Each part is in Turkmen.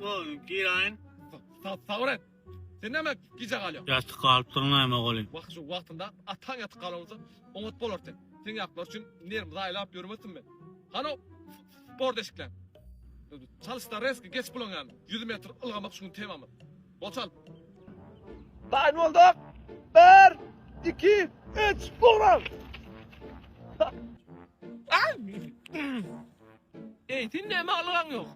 O giraýyn. Sabr et. Sen näme gije galýaň? Ýatyp galypdyr näme oglum? Wah şu wagtynda ataň ýatyp galan bolsa oňat bolar sen. Sen ýaplar üçin nerwimi zaýalap ýörmesin men. Hanow sport eşikleň. Çalyşda reski geç bulaň ýaly. Ýüz metr ylgamak şu gün temamyz. Bol çal. Taýyn bolduk. Bir, iki, üç, ura! Eý, sen näme algaň ýok?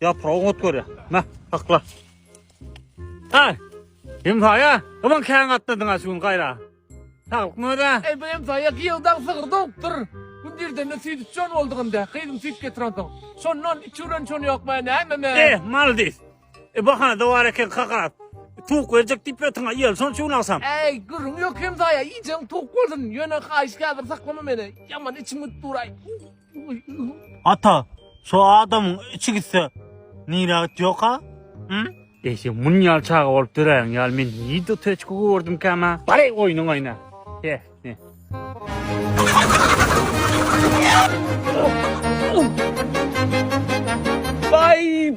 Yaprağı ot görýär. Meh, sakla. Ay, hemsaya, aman kän gatladyn ha şu gün gaýra. Saglyk möze. Ey bu hemsaya ýyldan sygyr dogupdyr. Gün dirdende süýt içen boldugynda, gyzym süýt getiren soň. Şondan içiren şon ýok men näme Eh, maldis. E bahana da bar eken kakarat. Tuvuk berjek diýip ýatyň, ýel şon şu gün agşam. Ey, gürrüň ýok hemsaya, iýjeň towuk bolsun. Ýöne haýyş häzir saklama meni. Ýaman içim gitdi uraý. Ata, şu adamyň içi gitse, nirä gitýok-a? Hum? Eýse mun ýaly çaga bolup döräýen ýaly men nirde töçki gördümkäm-ä? Bary oýnuň oýna. He, he. Baý,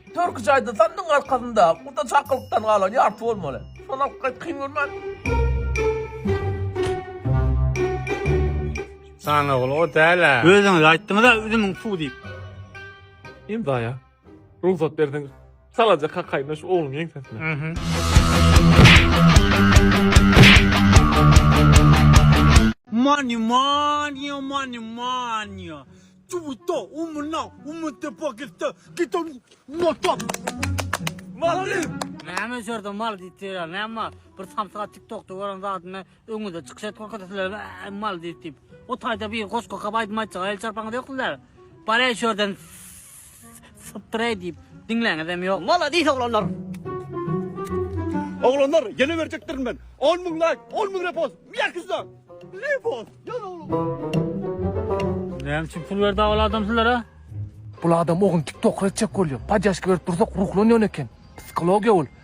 Türki jaýda sandygyň arkasynda guda çakylykdan galan ýarty bolmaly. Şony alyp gaýt kyn görmän. Sana ol o däl-ä. Özüňiz aýtdyňyz-a üzümiň suw diýip. Imzaýa. Rugsat berseň, salaja kakaýyna şu ogluň ýeňsesine. Money, money, money, money. Twitter, umuna, umute pakette, gitan, notam. Maldyr! Näme öçerde mal diýip ýörýär, näme mal? Bir samsyga tiktokda gören zadyny öňüňizde çykyş edip görkezse sizler äý mal diýip diýip. O taýda bir goşgy okap aýdym aýtjak el çarpaňyz ýok sizler. Bar öçerden. Spray diýip diňläňizem ýok. Maladis oglanlar. Oglanlar ýene berjekdirin men. 10 müň laýk, 10 müň repost. Ýakysda. Repost. Ýaz oglan. Näme üçin pul berdi awal adam sizlere? Bul adam ogyn tiktokr etjek bolýa. Podýaşka berip dursak ruhlanýan eken. Psihologiýa ol.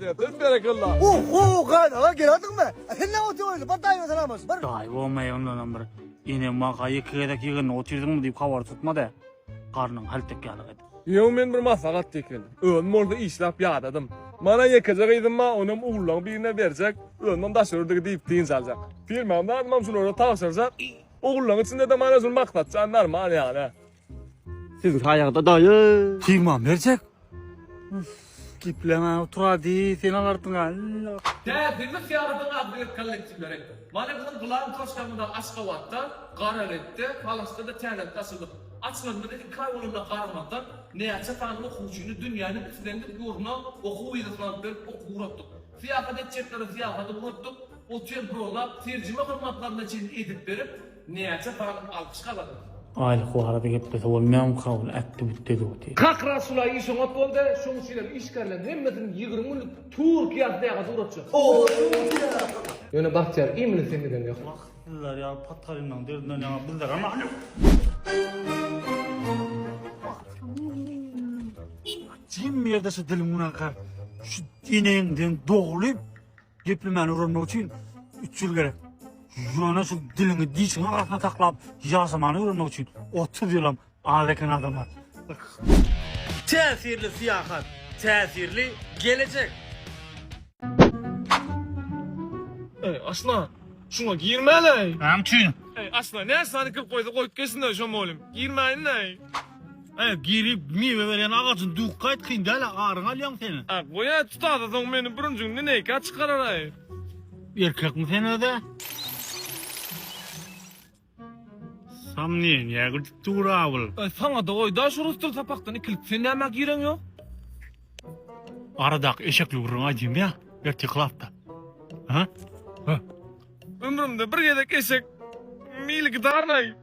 Döp berekella. Uhu gan aga geladin mi? Sen ne otu oyunu? Bar dayı selam olsun. Bar. Daýy bolmaýa ondanam bir ene maga ýeke gezek ýygynda otyrdyňmy diýip habar tutmady. Garnyň haltek ýaly gedi. Ýöne men bir maslahat diýken. Özüm bolsa işläp ýadadym. Mana ýekeje gyzym bar, onam ullaň birine berjek, özümem daş ördügi diýip dynç aljak. Firmam zadymam şulara tabşyrjak. Ullaň içinde-de mana şul maksatjan normal ýaly. Siziň saýaňyzda daýy. Tygman berjek. Gepleňä oturady, sen al artyňa. Täjirlik syýahatynyň adly bir kollektiwleri. Mana biziň Gylan Toşkamyzda Aşgabatda, Garabekde, Palasda-da täzelikde açyldyk. Açylanymyza iki aý bolanda garamazdan, näçe sany okuwçyny dünýäniň islendik ýurduna okuw wizasyny alyp berip okuw uratdyk. Syýahat etjeklere syýahaty uratdyk, otel bronlap, terjime hyzmatlaryna çenli edip berip, Näçe bal alkyş gazandy. Aýlyk barada geplese bolmaýamy kabul ätdi bu deduty. Kak Rasula iş oňat boldy, şoň üçinem işgärleriň hemmesini ýigrimi günlik Türkiýe atlaýaga dugratjak. Ýöne Bagtyýar iýmini seň giden ýok. Wah sizler ýaly patalynlaň derdinden ýaňa bizler Jim ýerde şu diliň bilen kar. Şu enegiňden dogly. Geplemäni öwrenmek üçin üç ýyl gerek. Ýöne şu diliňi dişiňiň arasynda saklap ýaşamany öwrenmek üçin otuz ýylam az eken adamlar. Täsirli syýahat, täsirli gelejek! Eý, asla, şuňa girmäläý! Näme üçin? Eý, asla, näçe sany kir goýsa goýup geçsinler şo mugallym. Girmäýin-leý! Eý girip miwe berýän agajyny duk gaýt kyn däl aryňy alýaň sen. Ak goýaý tutasa soň meni bürünjiňden neýkä çykararaý. Erkekmi sen özä? Samnieniýä gidip dur abyl. Eý saňada goýda şu rus dil sapakdan ikilik sen nämä gireň ýok. Aradaky eşekli gürrüňi aýdym ýa ertir klasda. Ha? Ha. Ömrümde bir gezek eşek mili gidarnaý.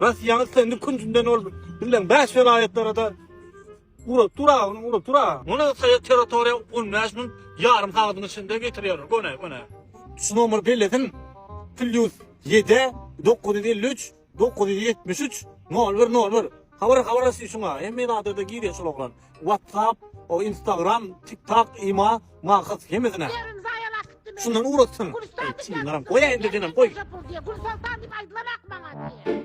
Bas ýaňy sen künjünden ol bilen bäş welaýatlara da ura tura ony ura tura. Muny saýa territoriýa 15 min ýarym sagadyň içinde getirýär. Gone gone. Şu nomer bellesin. Plus 7 953 973 0101. Habar habar asy şuňa. Hemme adada girýär şol oglan. WhatsApp, Instagram, TikTok, ima, mahsus hemesine. Şundan ugratsyn. Çynlaram. Goy endi denem goy. Gül Sultan dip aydylan ak bana diye.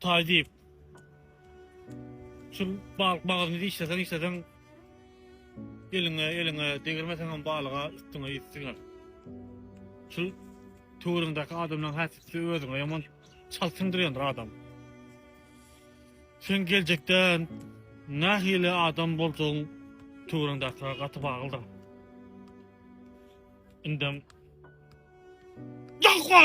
Taý diýip. Şu balyk bagyryny dişleseň işleseň eliňe eliňe degirmeseň hem balyga üstüňe ýüp siňer. Şu töwrüňdäki adamlaryň häsisi özüňe ýaman çalt siňdirýändir adam. Sen geljekde nähili adam boljagyň töwrüňdäkilere gaty baglydyr. Indem Ýahwa!